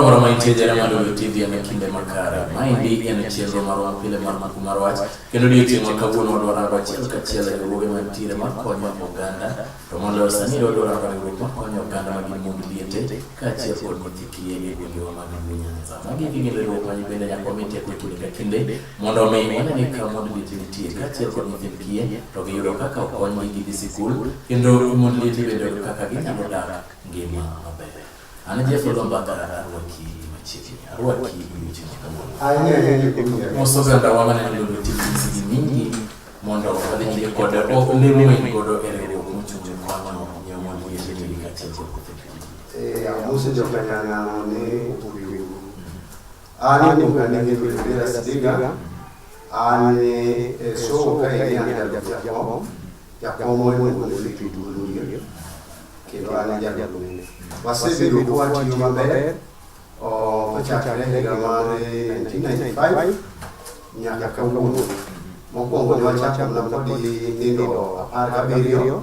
Moro ma nitie jara ma dolo TV en kinde makare. Ma endi en chenro marwa pile mar mako mar wach. Kendo odiechieng' ma kawuono wadwa rango achiel kachiel e riwruoge mantiere ma konyo oganda. To moloyo sani wadwa rango riwruok ma konyo oganda ma gin mond liete kaachiel kod nyithi kiye e gwengewa mag Luo Nyanza. Magi gin riwruok ma bende nyaka wami teko e kinde ka kinde Mondo omi wane ni ka mond liete nitie kaachiel kod nyithind kiye to giyudo kaka okonygi gidhi sikul kendo mond liete bende yudo kaka ginyalo dak ngima maber. An Jeff Olomba Dhara arwaki machiegni arwaki weche makawuono. Mos ogandawa maneno lolo tich gi mingi mondo wadhi nyime kod olemo en godo e riwruok mochung' ne kwano nyo mond liete ni kaachiel kod nyithind kiye. Amosi jokanyana ni Ani muka ni ni kulibira sidiga. Ani eso ka ini ani jalu jakom. Jakom oi mwen kuli kidulu yo. Kilo ani jalu mene. Wase bilu kuwa tiyo mabere. O pachakre higa mare 1995. Nyaka kawuono. Mokwongo ne wachako na podi nyithindo apar gabiriyo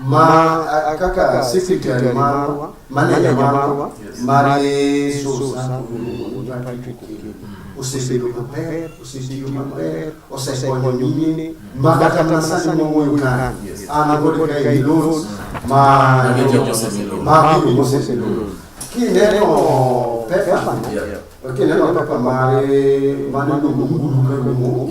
ma kaka secretary marwa manager marwa mar Yesu osebedo maber osetiyo maber osekonyo mine ma kata mana sani mawuoyo ka an agole ka e loans ma ma gigo mosebedo kineno pepa kineno pepa mare mane luongo nguru ka luongo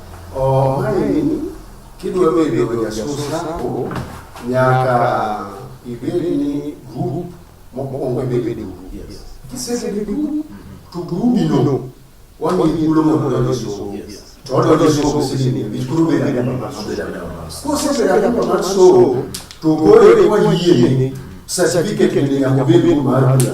Omaeni kidwa bedo jasus sako nyaka ibed ni grup mokwongo ibede grup. Kisebedo grup to grubino wamiyi thuolo mondo odonj e somo. To odonjo e somo sini nikech koro obedo adimba mar somo. Kosebedo adimba mar somo to koro eka wayieni certificate ni nyaka obed ni mar bula.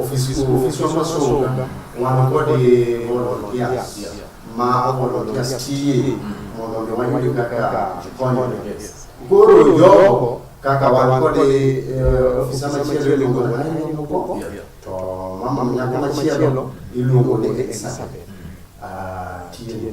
Ofisi ofisi wa masomo wanakuwa de volunteers ma volunteers tiye mondo mi wayud kaka konyore. Koro jogo kaka wan kod ofisa machielo iluongo ni Ryan Moko to mama nyako machielo iluongo ni Elizabeth. Ah, tiye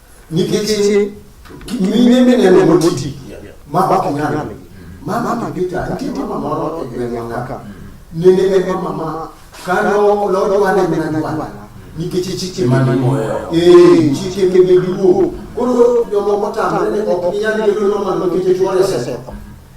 nikech mine mineno moti ma ok nyal mama mabita nitie mama moro e gweng'wa ka nene en mama ma kano lodwane mana dwana nikech chike manimoyo eh chike mebeduo koro jomoko tamre ne ok nyal bedo nomano nikech chwore setho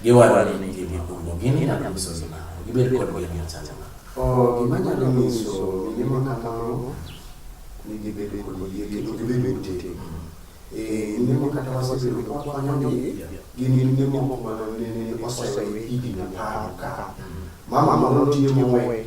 Giwacho ni gin gipuro, gin inyalo nyiso gi nang'o? Gibed kod geno machal nade? Oh, gima nyalo nyiso mine ma kamano ni gibedo kod yie kendo gibedo motegno. Eh, mine ma kata wasebedo ka wakonyogi gin mine moko ma nene osewe higni apar ka. Mama moro nitie mowe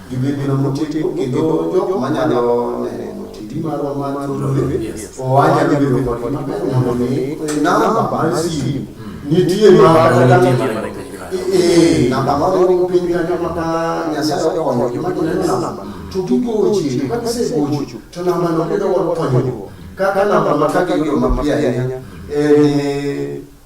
Gibiro motegno kendo jok manyalo neno TV marwa mar Lolwe owacha ni bedo kod maber mondo mi namba mar simu nitie ma ee namba ma oro piny kanyo maka Nyasaye okonyo joma gineno namba to gigochi ka gisegocho to namba no bedo kod konyruok kaka namba ma kaka iyudo mapiyo ahinya en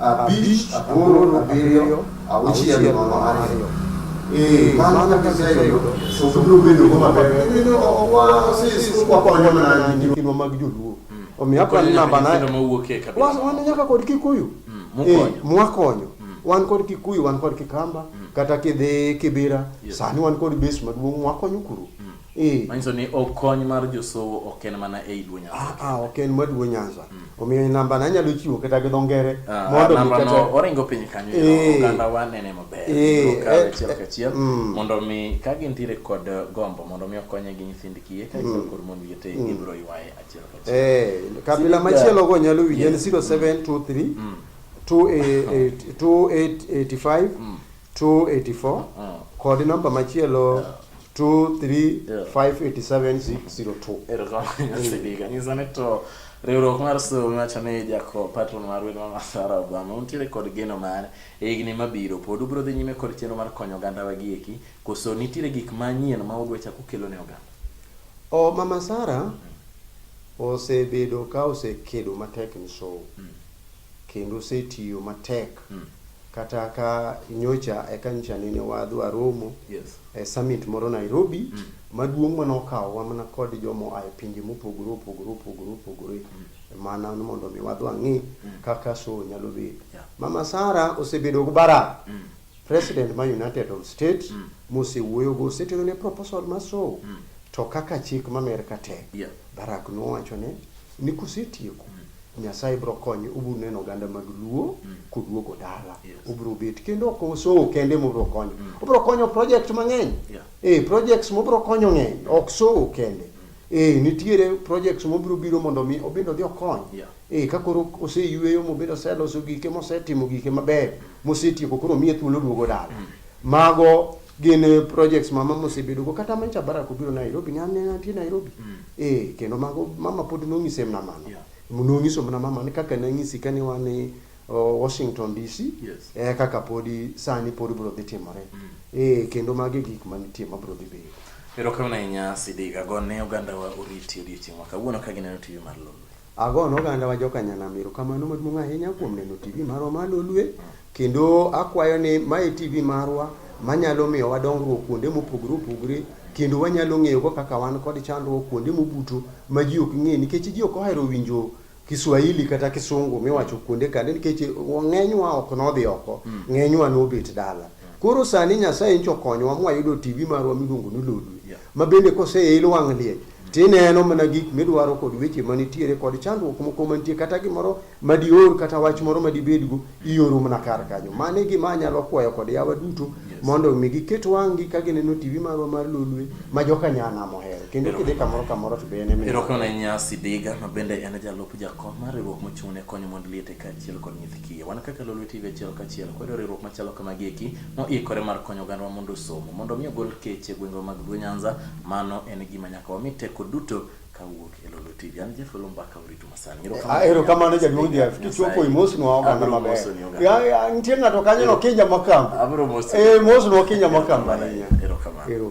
Abich, aboro, abiriyo, auchiel, nono, ariyo. Eh, mano kaka iseyudo. So biro bedo go maber. Nino owa sis wakonyo mana gi timwa mag joluo. Omiyo akwa ni namba na. Wan wan nyaka kod Kikuyu. Eh, mwakonyo. Wan kod Kikuyu, wan kod Kikamba, kata kidhi Kibira, sani wan kod base maduong' mwakonyo kuro. Eh. Manyiso ni okony mar josowo ok en mana ei Luo Nyanza. Ah, ah, ok en mar Luo Nyanza. Mm. Omiyo namba na anyalo chiwo kata gi dho ngere ah, mondo mi kata no oringo piny kanyo eh. oganda wa nene maber. Eh, ka eh, achiel ka achiel mm. mondo mi ka gintiere kod gombo mondo mi okonye gi nyithind kiye ka iso mm. kod mon wiye te ibro ywaye achiel ka achiel. Eh, kabila machielo go nyalo winjo en 0723 285 284 kod namba machielo 2358702. Erokamano Sidika. Mm. Nyisa ni to riwruok mar somo wacho ni jako patron mar wendo ma Masara Obama untiere kod geno mare e higni mabiro pod ubiro dhi nyime kod chenro mar konyo oganda wa gieki koso nitiere gik manyien ma udwa chako kelo ne oganda? O Mama Sara mm. osebedo ka osekedo matek ni somo. Mm. kendo osetiyo matek mm. kata ka nyocha e kanisa nene wadhi waromo yes. e summit moro Nairobi mm. maduong' mane okawowa mana kod jomo a e pinje mopogore opogore opogore opogore mm. mana mondo mi wadhi wang'i mm. kaka so nyalo bedo yeah. mama Sara osebedo gi bara mm. president ma United of States mm. mosewuoyo go osetero ne proposal ma so mm. to kaka chik ma Amerka tek yeah. Barack nowacho ne ni kusetieko mm. Nyasaye bro konye ubro neno oganda mag Luo mm. koduogo dala yes. ubro bet kendo ok osowo kende mobro konyo mm. obro konyo project mang'eny yeah. eh, projects mobro konyo ng'eny ok sowo kende mm. eh, nitiere projects mobro biro mondo mi obedo dhi okony yeah. eh, ka koro oseyueyo mobedo oseloso gike mosetimo gike maber mosetieko koro miye thuolo duogo dala mm. mago gin eh, projects mama mosebedogo kata mancha barak obiro Nairobi ne aneno nitie Nairobi mm. Eh, kendo mago mama pod nong'ise mna mano. Yeah. Nong'iso mna mama ni kaka nang'isi ka ni wan ni uh, Washington DC. Yes. Eh, kaka podi sani podi bro dhi timore. Mm. Eh, kendo magi gik ma nitie ma bro dhi bedo. Pero kama na inya sidiga go ne oganda wa oriti odiochieng' ma kawuono ka gineno TV mar lolo. Ago ne oganda wa joka nyanam erokamano maduong' ahinya kuom neno TV marwa mar Lolwe kendo akwayo ni ma e TV marwa manyalo miyo wa dongruok kuonde mopogore opogore kendo wanyalo ng'eyo go kaka wan kod chandruok kuonde mobuto ma ji ok ng'e nikech ji ok ohero winjo Kiswahili kata Kisungu miwacho kuonde kande nikech ng'enywa ok nodhi oko, mm. ng'enywa nobet dala. Mm. Koro sani Nyasaye ncho konyowa mwayudo TV marwa miluongo ni Lodwe, ma bende koseil wang' liech tineno mana gik midwaro kod weche manitiere kod chandruok moko mantie kata gimoro madior kata wach moro madibedgo ioro mana kar kanyo mano e gima anyalo kwayo kod yawa duto mondo mi giket wang'gi ka gineno tv marwa mar lolwe ma joka nyana mohero kendo kidhi kamoro kamoro to be en erokamano nyasi diga ma bende en jalup jakom mar riwruok mochung' ne konyo mond liete kaachiel kod nyithi kiye wan kaka lolwe tv achiel kaachiel kwedo riwruok machalo kamagieki moikore mar konyo ogandwa mondo osomo mondo mi ogol keche gwengwa mag luo nyanza Mano en gima nyaka wami teko duto kawuok e Lolo TV. An Jeff Lolo Mbaka uritu masani. Ah, Erokamano jaduong' Jeff, kichwopo imosnwa oganda maber. Ya, ya, nitie ng'ato kanyo no kinja makamba. Abiro mosi. Eh, mosnwa kinja makamba. Erokamano.